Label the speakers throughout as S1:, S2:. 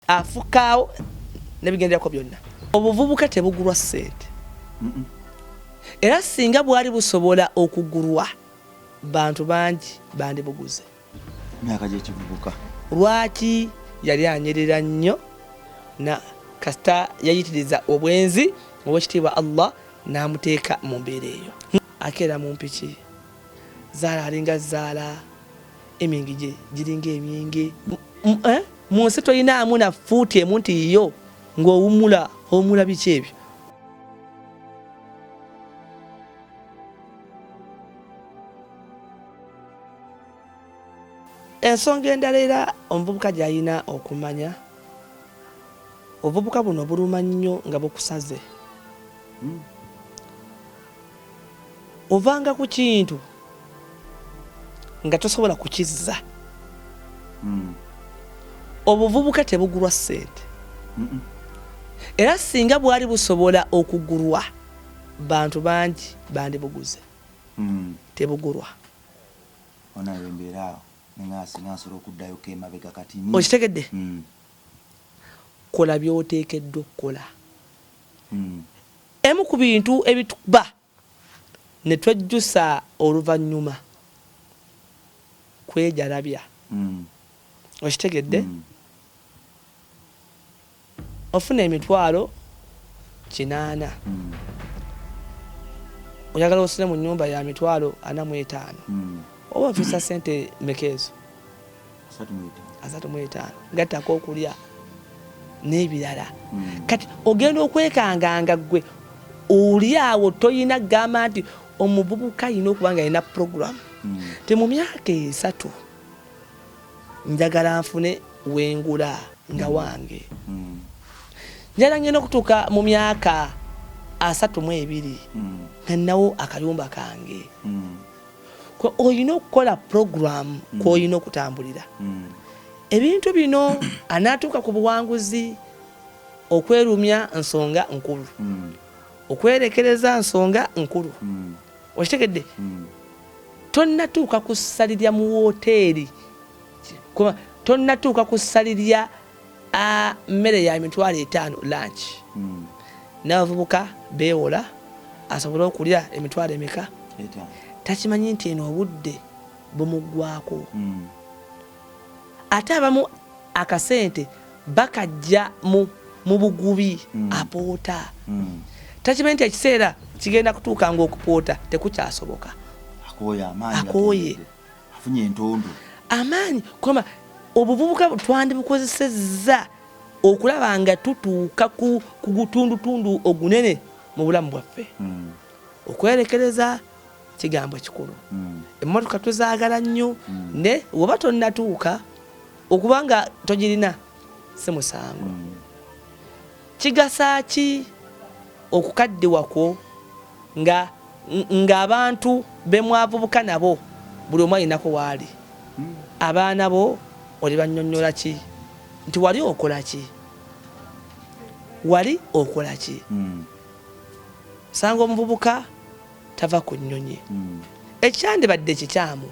S1: afukaawo nebigenderako byonna obuvubuka tebugulwa sente era singa bwali busobola okugulwa bantu bangi bandibuguze myaka
S2: gyekivubuka lwaki
S1: yali anyerera nnyo na kasita yayitiriza obwenzi owekitiibwa allah namuteeka mu mbeera eyo akeera mu mpiki zaala alinga zaala Emyenge gye giringa emyenge eh? mu nsi tolinaamu na fuuti emu nti yiyo ng'owummula owummula biki ebyo ensonga endala era omuvubuka gy'alina okumanya obuvubuka buno buluma nnyo nga bukusaze hmm. ovanga ku kintu nga tosobola kukizza hmm. obuvubuka tebugulwa ssente era singa bwali busobola okugulwa bantu bangi bandibuguze hmm. tebugulwa
S2: okitegedde hmm.
S1: kola byoteekeddwa okukola Emu ku bintu ebitukuba ne twejjusa oluvannyuma kwejalabya. Okitegedde? Ofuna emitwalo kinaana, oyagala osule mu nnyumba ya mitwalo ana mu etaano, oba ofiisa ssente mmeka ezo? asatu mu etaano gattako okulya n'ebirala hmm. kati ogenda okwekanganga gwe oli awo toyina kugamba nti omuvubuka yina okuba nga yina puroguramu hmm. ti mu myaka esatu njagala nfune wengula nga hmm. wange njala ngenda okutuuka mu myaka asatu mu ebiri nga nnawo akayumba kange olina okukola puroguramu mm. kwolina okutambulira mm. ebintu bino anaatuuka ku buwanguzi okwerumya nsonga nkulu mm. okwerekereza nsonga nkulu okitegedde tonnatuuka ku ssalirya mu wooteeri tonnatuuka ku ssalirya mmere ya mitwalo etaano lanki hmm. n'abavubuka beewola asobole okulya emitwalo emeka takimanyi nti eno obudde bumuggwako hmm. ate abamu akasente bakajja mu bugubi hmm. apoota takimanyi nti ekiseera kigenda kutuuka ngaokupoota tekukyasoboka akooye afunye
S2: entondo amaanyi kwamba
S1: obuvubuka twandibukozesezza okulaba nga tutuuka ku gutundutundu ogunene mu bulamu bwaffe hmm. okwerekereza kigambo kikulu hmm. emmotoka tuzaagala nnyo hmm. ne woba tonnatuuka okuba nga togirina si musango Kigasa ki okukaddiwa kwo nga ng'abantu be mwavubuka nabo buli omu alinako waali? Abaana bo olibannyonnyola ki nti wali okola ki? Wali okola ki? Hmm. Osanga omuvubuka tava ku nnyonyi. Hmm. Ekyandibadde kikyamu.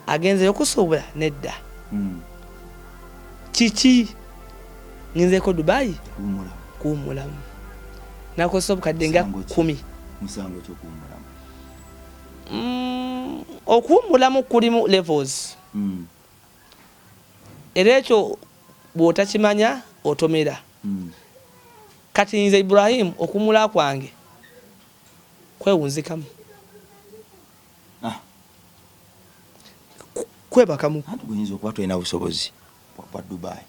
S1: agenzeyo kusuubula nedda hmm. kiki ngenzeeko dubayi kuwummulamu nakozesa obukadde nga kumi mm, okuwummulamu kulimu levels hmm. era ekyo bw'otakimanya otomera hmm. kati nze ibrahimu okumula kwange kwewunzikamu ah. kwebaka mu anti guyinza okuba tolina
S2: busobozi bwa dubai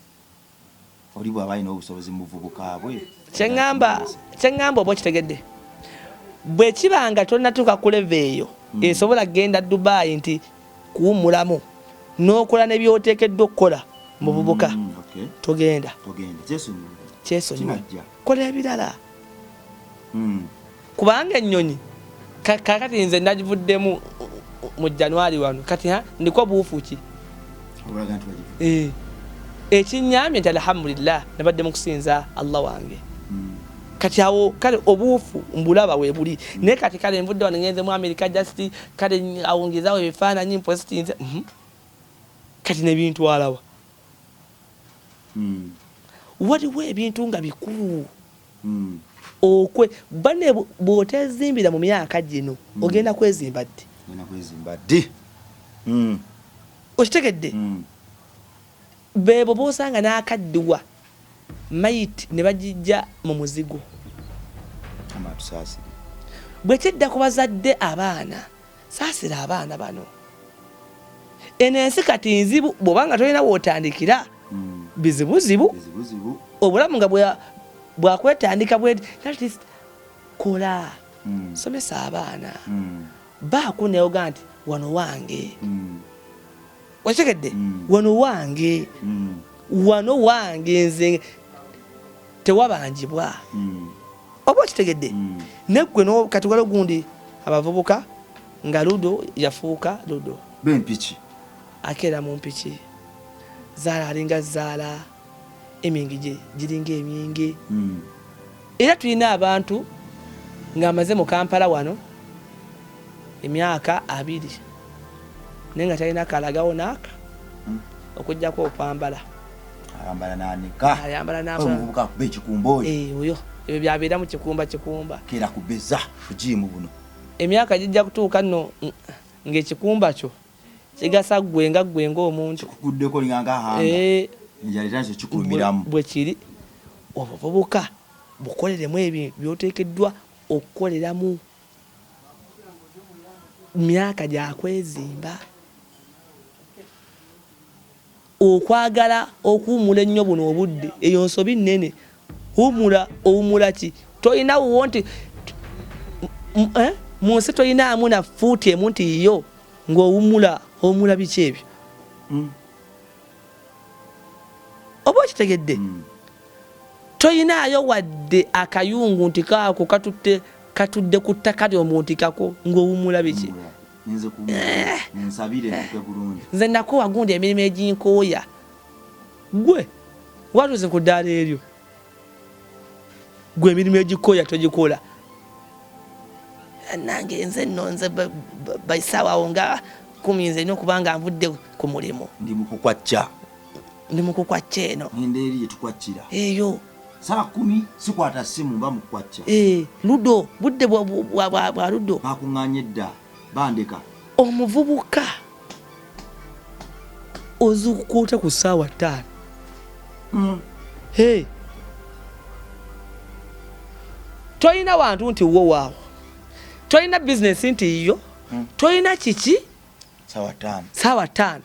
S2: oli bwaba alina obusobozi mubuvubuka bwe kyeŋamba
S1: kyeŋamba oba okitegedde bwekiba nga tonatuuka kuleva eyo hmm. esobola kugenda dubai nti kuwumulamu nokola nebyotekeddwa okukola mubuvubuka hmm, togenda kyesonyiwa kola ebirala hmm. kubanga ennyonyi kakati nze nagivuddemu mu januari wano kati ha ndiko buufu ki eh, ekinyambye nti alhamdulillah nabadde mu kusinza allah wange hmm. kati awo kale obuufu mbulaba webuli hmm. naye kati kale nvudde wano ngenze mu america just kale awongezawo ebifaananyi mpositinze mhm. kati nebintwalawa hmm. waliwo ebintu nga bikulu okwe bane bwotezimbira mu myaka gino hmm. ogenda kwezimba ddi ogenda kwezimba ddi hmm. okitegedde hmm. bebo bosanga n'akaddiwa mayiti ne bagijja mu muzigo bwe kidda ku bazadde abaana Saasira abaana bano. Eno ensi kati nzibu bw'oba nga tolina w'otandikira hmm. bizibuzibu obulamu nga bwakwetandika bwe kola hmm. somesa abaana hmm. baako neoga nti wano wange wakitegedde mm. wano wange mm. wano wange nze tewabanjibwa mm. oba okitegedde neggwe kati wala ogundi abavubuka nga ludo yafuuka ludo bempiki
S2: akeera
S1: mu mpiki zaala alinga zaala emyenge giringa emyenge hmm. era tulina abantu ng'amaze mu kampala wano emyaka abiri naye nga talina kalagawo naaka hmm. okujjako okwambala
S2: oyo ebyo byabeera
S1: mu kikumba kikumba kera kubeza
S2: bujiimu buno emyaka gijja
S1: kutuuka nno ng'ekikumba kyo kigasa gwe nga gwe ng'omuntu kikuguddeko linganga
S2: hanga eh. enjala era nze kikulumiramu bwe kiri
S1: obuvubuka bukoleremu ebyo byoteekeddwa okukoleramu myaka gyakwezimba Okwagala okuwumula ennyo buno obudde eyo nsobi nnene. Wumula, owumula ki? Tolina wuwo nti eh? Mu nsi tolinaamu na fuuti emu nti yiyo ng'owumula. Owumula biki ebyo? Mm. Oba okitegedde? Mm. Tolinaayo wadde akayungu nti kaako katutte katudde ku ttaka lyo mu nti kako ng'owumula biki? Mm. ninze ku eh. munsabire ntuke bulungi nze nakowa gundi emirimu eginkooya gwe watuuse ku ddaala eryo gwe emirimu egikooya togikola nange nze nno nze baisaawawo nga kumi nze nina okuba nga nvudde ku mulimu
S2: ndi mukukwacca ndi mukukwacca eno eyo
S1: saa kumi
S2: sikwata simu mba mukwacca eh, ludo
S1: budde bwa ludo bakuŋŋanye dda
S2: bandeka omuvubuka
S1: ozuukuka otya ku ssaawa ttaano hmm. he tolina wantu nti wo waawo tolina bizinesi nti yiyo hmm. tolina kiki ssaawa ttaano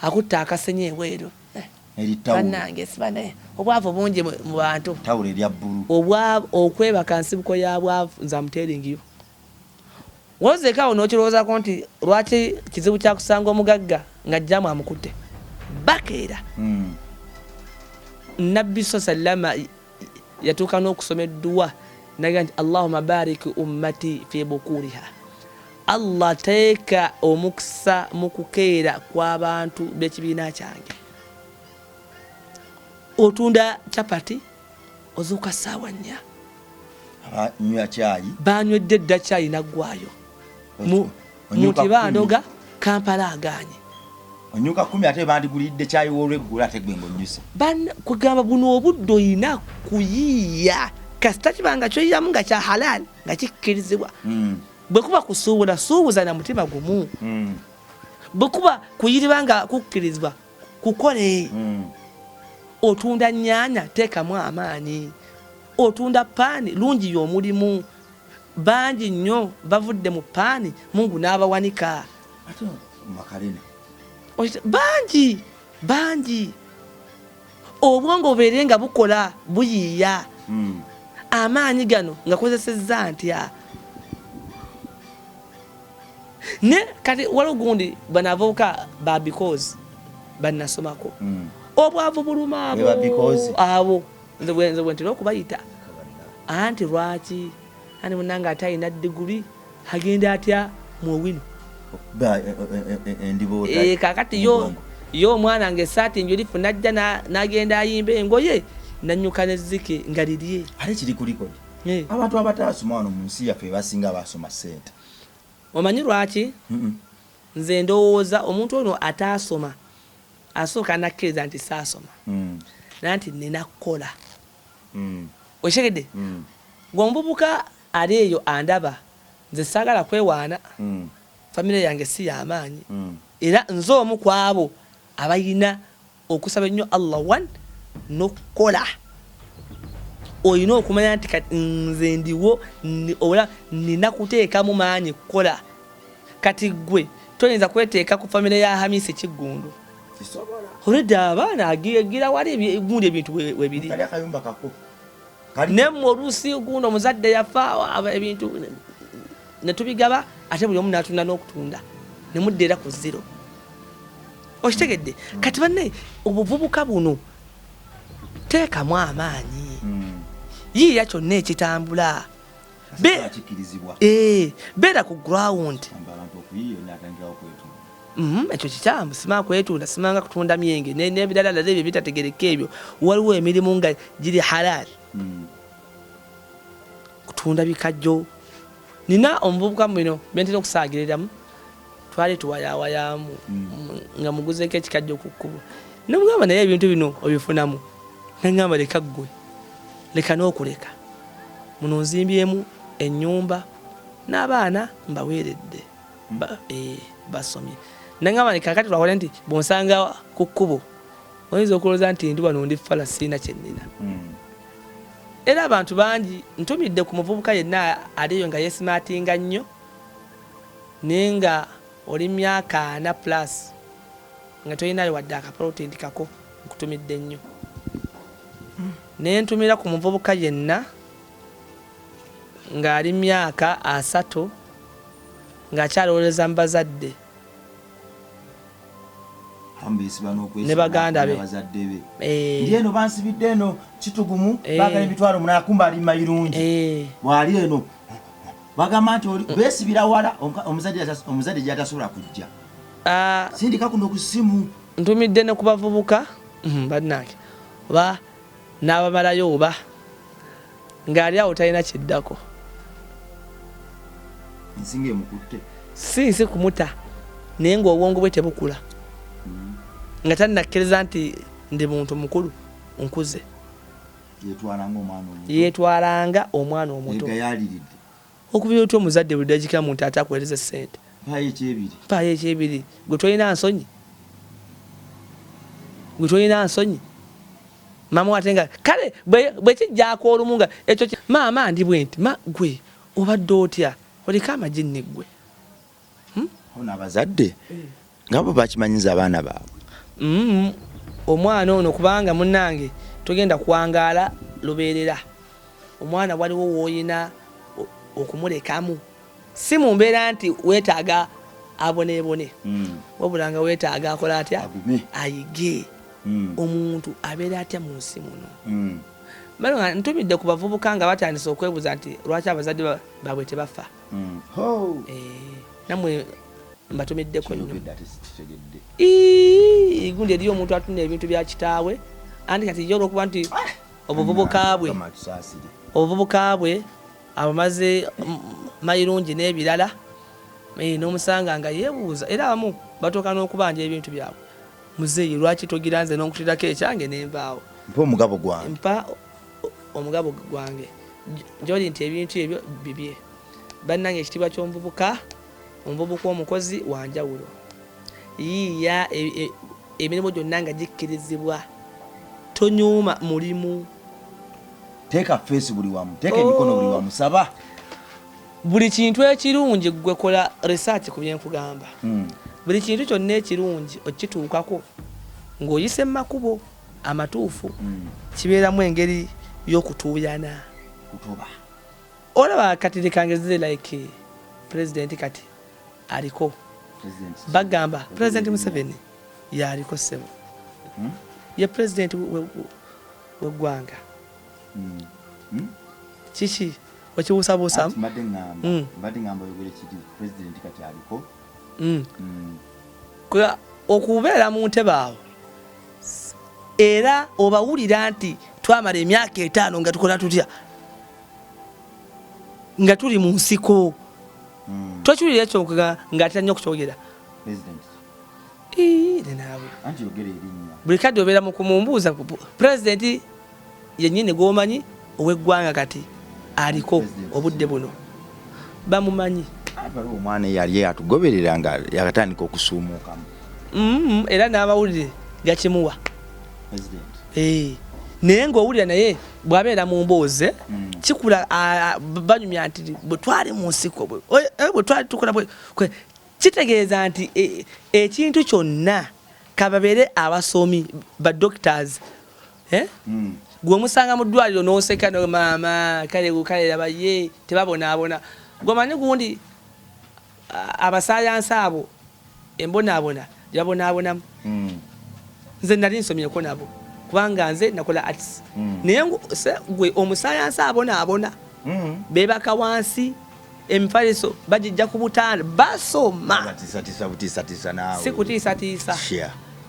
S1: Akutte akasenyi ebweru. Banange sibane obwavu bungi mu bantu. Tawulo erya bbulu.
S2: Obwavu okwebaka
S1: nsibuko ya bwavu nze amutelingiyo. Wozeka awo n'okirowoozako nti lwaki kizibu kya kusanga omugagga nga jjaamu amukutte. Bakeera. Mm. Nabbi sallama yatuuka n'okusoma edduwa naga nti allahuma bariki ummati fi bukuriha allah teeka omukisa mu kukeera kw'abantu b'ekibiina kyange otunda chapati ozuuka ssaawa nnya
S2: banywedde dda
S1: kyayi naggwayo muti bandoga kampala aganye onyuka kumi
S2: ate bandigulidde kyayi wolweggula ate gwe ngaonyuse kugamba buno
S1: obudde olina kuyiiya kasita kiba nga kyoyiyamu nga kya halaali nga kikkirizibwa hmm. bwe kuba kusuubula suubuza na mutima gumu hmm. bwe kuba kuyiriba nga kukkirizibwa kukole hmm. otunda nnyanya teekamu amaanyi otunda paani lungi y'omulimu Bangi nyo bavudde mu paani mungu n'abawanika. Ate makarena. Bangi bangi obwongo bubeere nga bukola buyiiya hmm. amaanyi gano nga kozesezza ntya ne kati waliwo gundi banavubuka ba because banasomako mm. obwavu buluma abo nze bwenze bwentera okubayita anti lwaki ani munange ate alina diguli agenda atya muowino kakati yo yo omwana nga esaati njulifu najja nagenda ayimba engoye nanyuka neziki nga lirye ate kiri kulikodi
S2: abantu abataasoma wano mu nsi yaffe basinga basoma sente omanyi
S1: lwaki nze ndowooza omuntu ono ataasoma asooka nakkiriza nti saasoma mm. nanti nina kukola mm. okitegedde mm. gwe omuvubuka ali eyo andaba nze saagala kwewaana mm. famire yange si yamaanyi mm. era nze omu ku abo abalina okusaba ennyo allah one nokukola olina okumanya nti kati nze ndiwo ola nina kuteekamu maanyi kukola Kati gwe toyinza kweteeka ku famire ya Hamisi Kiggundu. Olwedda abaana agira wali gundi ebintu webiri. Nemmwe oluusi gundi omuzadde yafa ebintu netubigaba ate buli omu natunda n'okutunda nemudda era ku zero. Okitegedde kati banne obuvubuka buno teekamu amaanyi hmm. yiiya kyonna ekitambula. eh, beera ku ground mhm, ekyo kikyamu sima kwetunda simanga kutunda myenge nebirala lala ebyo bitategereka ebyo waliwo emirimu nga giri halal hmm. kutunda bikajjo nina omuvubuka mubino bentera okusaagiriramu twali tuwayawayaamu nga muguzeeko ekikajjo ku kkubo nomugamba naye ebintu bino obifunamu nengamba leka ggwe leka n'okuleka muno nzimbyemu ennyumba n'abaana mbaweeredde eh, basomye nengamba kakati twakole nti bwonsanga ku kkubo oyinza okulowooza nti ndi wano ndi fala siina kyennina hmm. era abantu bangi ntumidde ku muvubuka yenna aliyo nga yesimatinga nnyo Naye nga oli myaka ana plus nga tolinayo wadde aka plot nti kako nkutumidde nnyo nentumira ku muvubuka yenna nga ali myaka asatu nga akyalowoleza mu bazadde ne baganda be eh. eno
S2: bansibidde eno kitugumu eh. bagala emitwalo munakumba ali mayirungi eh. bwali eno bagamba nti mm. besibira wala omuzadde gyatasobola kujja ah. sindika kuno ku simu ntumidde ne ku
S1: bavubuka mm, bannange oba n'abamalayo oba ng'ali awo talina kiddako
S2: ensinga emukutte si nsi kumuta
S1: naye ng'obwongo bwe tebukula mm. nga tannakkiriza nti ndi muntu mukulu nkuze yetwalanga omwana omuto okubira otya omuzadde buli dagika muntu ate akuwereza sente mpaayo ekyebiri gwe tolina nsonyi gwe tolina nsonyi maama wate nga kale bwekijjako olumu nga ekyo maama ndi bwenti ma gwe obadde otya oliko amajinni gwe hmm?
S2: ono abazadde nga bo bakimanyiza abaana baabwe hmm,
S1: omwana ono kubanga munange togenda kuwangaala lubeerera omwana waliwo woyina okumulekamu si mu mbeera nti weetaaga aboneebone hmm. wabula nga weetaaga akola atya ayige hmm. omuntu abeera atya mu nsi muno hmm. ntumidde ku bavubuka nga batandise okwebuuza nti lwaki abazadde babwe tebafa mm. oh. eh, namwe mbatumiddeko nnyo igundi eriyo omuntu atunda ebintu bya kitaawe anti kati yo olwokuba nti ah! obuvubuka bwe obuvubuka bwe abamaze mayirungi n'ebirala eh, n'omusanga nga yeebuuza era abamu batuuka n'okubanja ebintu byabwe muzeeyi lwaki togira nze n'okutirako ekyange nenvaawo mpa omugabo gwange omugabo gwange gyoli nti ebintu ebyo bibye bannange ekitiibwa ky'omuvubuka omuvubuka omukozi wanjawulo yiiya e, e, emirimu gyonna nga gikkirizibwa tonyuuma mulimu
S2: teeka feesi buli wamu teeka emikono buli wamu saba buli
S1: kintu ekirungi gwe kola research ku byenkugamba hmm. buli kintu kyonna ekirungi okituukako ng'oyise mu makubo amatuufu mm. kibeeramu engeri y'okutuuyana kutuba olaba kati lekangezire like pulezidenti kati aliko bagamba pulezidenti museveni yaliko ssebo hmm? ye pulezidenti weggwanga hmm. hmm? kiki okibuusabuusamu mbadde ngamba oyogere kiti pulezidenti kati aliko okubeera mu ntebe awo era obawulira nti twamala emyaka etaano nga tukola tutya nga tuli mu nsiko hmm. tokiwulira ekyo nga atera nnyo okukyogera
S2: buli kadde obeera
S1: mukumumbuuza pulezidenti Yennyini gwomanyi ow'eggwanga kati aliko obudde buno bamumanyi. Waliwo omwana
S2: eyali atugoberera nga yakatandika okusuumuukamu mm-hmm.
S1: era n'amawulire gakimuwa eh. naye ng'owulira naye bw'abeera mu mboozi eh, mm. kikula banyumya nti bwe twali mu nsiko bwe eh, twali tukola kitegeeza nti ekintu kyonna kababeere abasomi ba doctors eh? mm. gwe omusanga mu ddwaliro n'oseka no maama kale kale laba ye tebabonaabona gwe manyi gundi abasayansi abo embonaabona gyebabonaabonamu mm. nze nali nsomyeko nabo kubanga nze nakola arts mm. naye gwe omusayansi abonaabona mm. bebaka wansi emifaliso bagijja ku butanda basoma sikutiisatiisa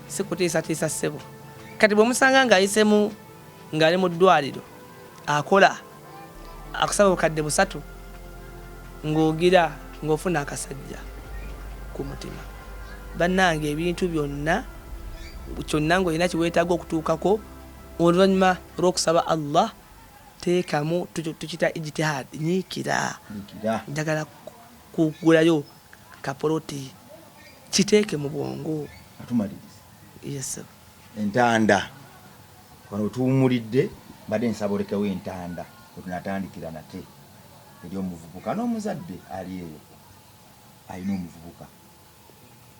S1: sikutiisatiisa ssebo kati bwemusanga ngaayisemu ngaali mu ddwaliro akola akusaba bukadde busatu ng'ogira ng'ofuna akasajja ku mutima bannange ebintu byonna kyonna ng'olina kiweetaaga okutuukako oluvannyuma lw'okusaba allah teekamu tukita ijtihad nyiikira njagala kugulayo kapoloti kiteeke mu bwongo yes entanda
S2: wano tuwumulidde mbadde nsaba olekewo entanda wetunatandikira nate eri omuvubuka n'omuzadde ali eyo alina omuvubuka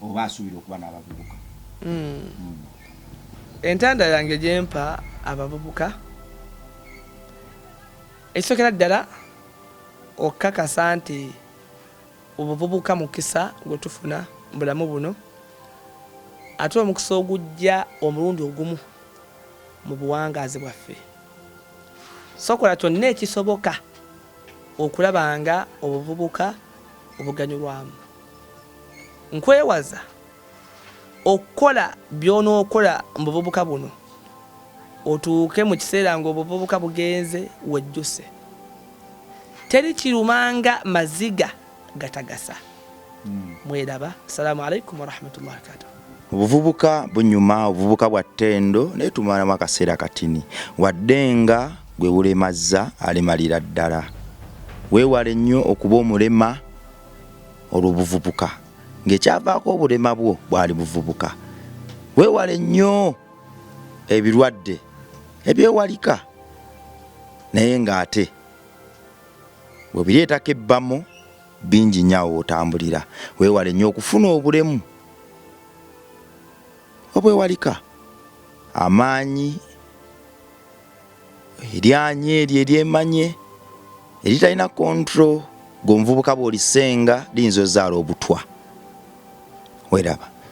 S2: oba asuubira okuba n'abavubuka hmm. Hmm.
S1: entanda yange gyempa abavubuka ekisookera ddala okukakasa nti obuvubuka mukisa gwe tufuna mu bulamu buno ate omukisa ogujja omulundi ogumu mu buwangaazi bwaffe sokola kyonna ekisoboka okulaba nga obuvubuka obuganyulwamu nkwewaza okukola by'onookola mu buvubuka buno otuuke mu kiseera ng'obuvubuka bugenze wejjuse teri kirumanga maziga gatagasa hmm. mweraba assalamu alaikum warahmatullahi wabarakatuh obuvubuka
S2: bunyuma obuvubuka bwa ttendo naye tumalamu akaseera katini wadde nga gwe bulemazza alemalira ddala weewale nnyo okuba omulema olw'obuvubuka ng'ekyavaako obulema bwo bwali buvubuka weewale nnyo ebirwadde ebyewalika naye ng'ate webireetako ebbamu bingi nnyo awo otambulira weewale nnyo okufuna obulemu obwewalika amaanyi eryanyi eryo eryemanye eritalina control gwe omuvubuka bwolisenga liyinza ozaala obutwa weraba